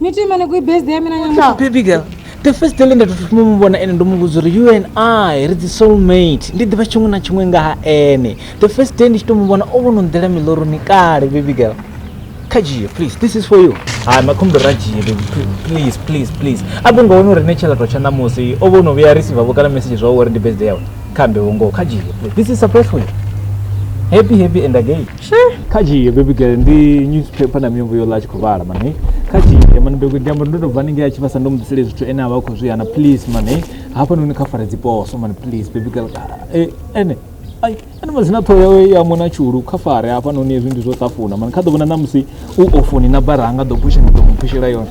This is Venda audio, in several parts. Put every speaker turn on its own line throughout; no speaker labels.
ni to ima ni kui base ya mina nyamusa baby girl the first day lenda tofuma mu vhona ene ndo mu vhudza uri you and i ri dzi soulmate ndi ḓivha tshiṅwe na tshiṅwe nga ha ene the first day ndi tshi to mu vhona o vhono nḓela miloroni kale baby girl kha dzhie please this is for you hai makhombo ra dzhie baby please please please a vho nga wona uri ne tshelato tsha ṋamusi o vhono vhuya receive vho kana message zwa uri ndi birthday yawe khambe vho ngoho kha dzhie please this is surprise for you happy happy and again kha dzhie baby girl ndi newspaper na miyombo yo ḽa tshi khou vhala mane kha dzhie mane bego ndi amba ndo to bva ninge a tshi vhasa ndo mudisele zwithu ene avha khou zwiana please mane hafha noni kha fara dziposo mane please baby girl eh ene ai ene mazina ṱhoho yawe ya mona tshulu kha fare hafha noni hezwi ndi zwo ṱafuna mane kha ḓo vhona na musi u ofoni na baranga ḓo phusha ndi ḓo mu phushela yone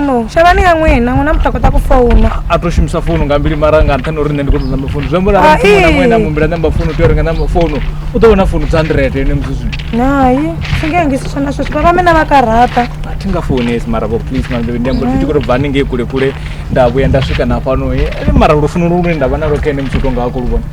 no shavhani ya ṅwena ṅwana muthu a khou ṱa ku founa a to shumisa founu nga mbili mara nga nṱhani uri nṋe ndi khou ṱoḓa mafounu zwi amba uri arali muthu muṅwe na muṅwe na mumbila namba founu tea uri nga namba founu u ḓo vhona founu dza hundred ene musi zwino nayi singengisiswa na sweswi vha vhamena vha karaṱa a thi nga founesi mara vho please manḓevi ndi amba ndi tshi khou tou bva haningei kule kule nda vhuya nda swika na fhano he mara lufuno lu lune nda vha nalo kha ene musi u tonga a khou lu vhona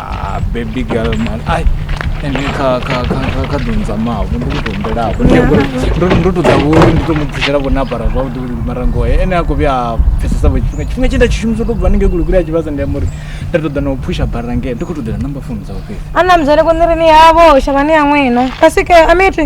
Ah baby girl man ai ende kha kha kha kha kha ḓo ndzamavho ndi khou tou humbelafho nṋe ngori ndo ndo tou ḓa vhori ndi tou mu phushela vho na apara zwavhuḓi vhuli mara ngoho ene a khou vhuya a pfhesesa vho tshifhinga tshifhinga tshe nda tshi shumisa u tou bva haningei kulikuli a tshi vhasa ndi amba uri nda tou ḓa na u phusha bara ngei ndi khou tou ḓela number phone dzawe fhedzi ana mzale ko ni ri ni yavho shavhani ya n'wina kasi ke amiti